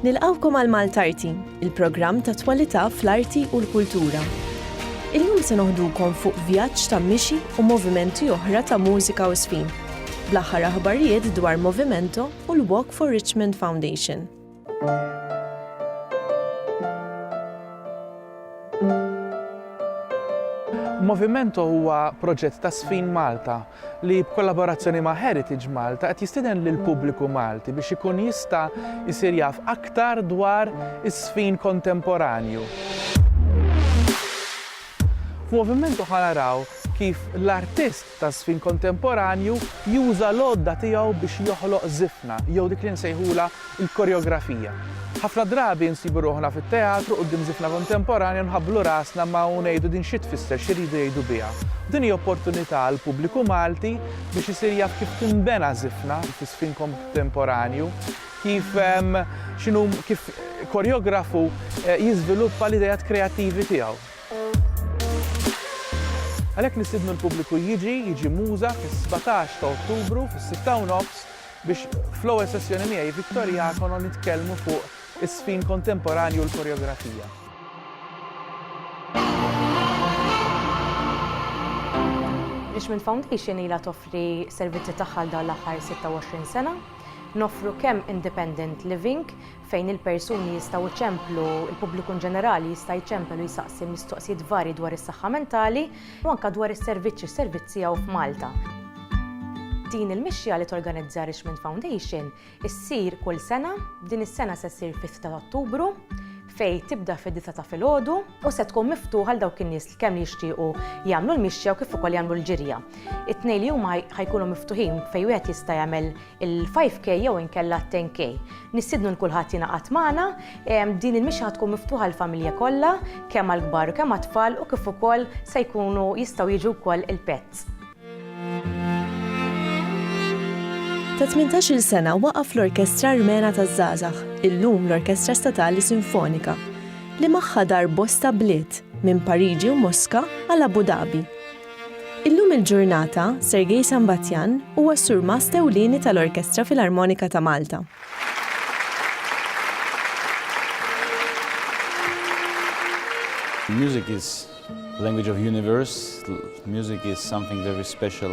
Nilqgħukom għal Maltarti, il-programm ta' twalità fl-arti u l-kultura. Illum se noħdukom fuq vjaġġ ta' mixi u movimenti oħra ta' mużika u żfin, bl-aħħar aħbarijiet dwar Movimento u l-Walk for Richmond Foundation. Movimento huwa proġett ta' Żfin Malta li b'kollaborazzjoni ma' Heritage Malta qed jistieden lill-pubbliku Malti biex ikun jista' jsir jaf aktar dwar iż-żfin kontemporanju. F'Movimento ħa naraw kif l-artist taż-żfin kontemporanju juża l-għodda tiegħu biex joħloq żifna jew dik li nsejħulha Il-koreografija. Ħafna drabi nsibu ruħna fit-teatru quddiem żifna kontemporanja u nħabblu rasna ma' u ngħidu din xi tfisser, xi rridu jgħidu biha. U din hi opportunità għall-pubbliku Malti biex isir jaf kif tinbena żifna fi żfin kontemporanju, kif x'inhu kif koreografu jiżviluppa l-ideat kreattivi tiegħu. Għalhekk nistiednu l-pubbliku jiġi, jiġi Muża fis-sbatax ta' Ottubru fis-sitta u nofs biex fl-ewwel sessjoni miegħi Victor Iacono nitkellmu fuq iż-żfin kontemporanju u l-koreografija. L-Ishman Foundation ilha toffri servizzi tagħha għal dawn l-aħħar 26 sena. Noffru kemm independent living fejn il-persuni jistgħu jċemplu, il-pubbliku ġenerali jista' jċempel u jsaqsi mistoqsijiet varji dwar is-saħħa mentali, u anke dwar is-servizz u s-servizz tiegħu f'Malta. Din il-mixja li torganizza Richmond Foundation issir kull sena, din is-sena se ssir fis ta' Ottubru, fejn tibda fid-disa ta' filgħodu u se tkun miftuħa għal dawk in-nies li kemm jixtiequ jagħmlu l-mixja u kif ukoll jagħmlu l-ġirja. It-tnejn li huma ħajkunu miftuħin fejn wieħed jista' jagħmel il-5K jew inkella t-10K. Nistidnu l-kulħadd jingħaqad magħna, din il-mixja tkun miftuħa l-familja kollha, kemm għall-kbar u kemm għat-tfal u kif ukoll se jkunu jistgħu jiġu wkoll il-pets. Ta' 18-il sena waqaf l-Orkestra Armena taż-Żgħażagħ, illum l-Orkestra Statali Sinfonika, li magħha dar bosta bliet, minn Pariġi u Moska għal Abu Dhabi. Illum il-ġurnata, Sergei Sambatyan huwa s-Surmast Ewlieni tal-Orkestra Filarmonika ta' Malta. Music is language of universe, music is something very special.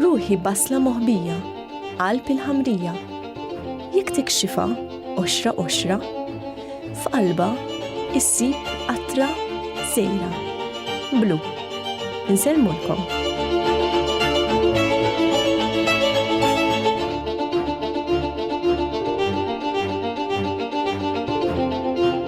Ruħi basla moħbija, qalb il-ħamrija. Jekk tikxifa, oxra oxra, f'qalba issib qatra sejra. Blu. Insellmulkom.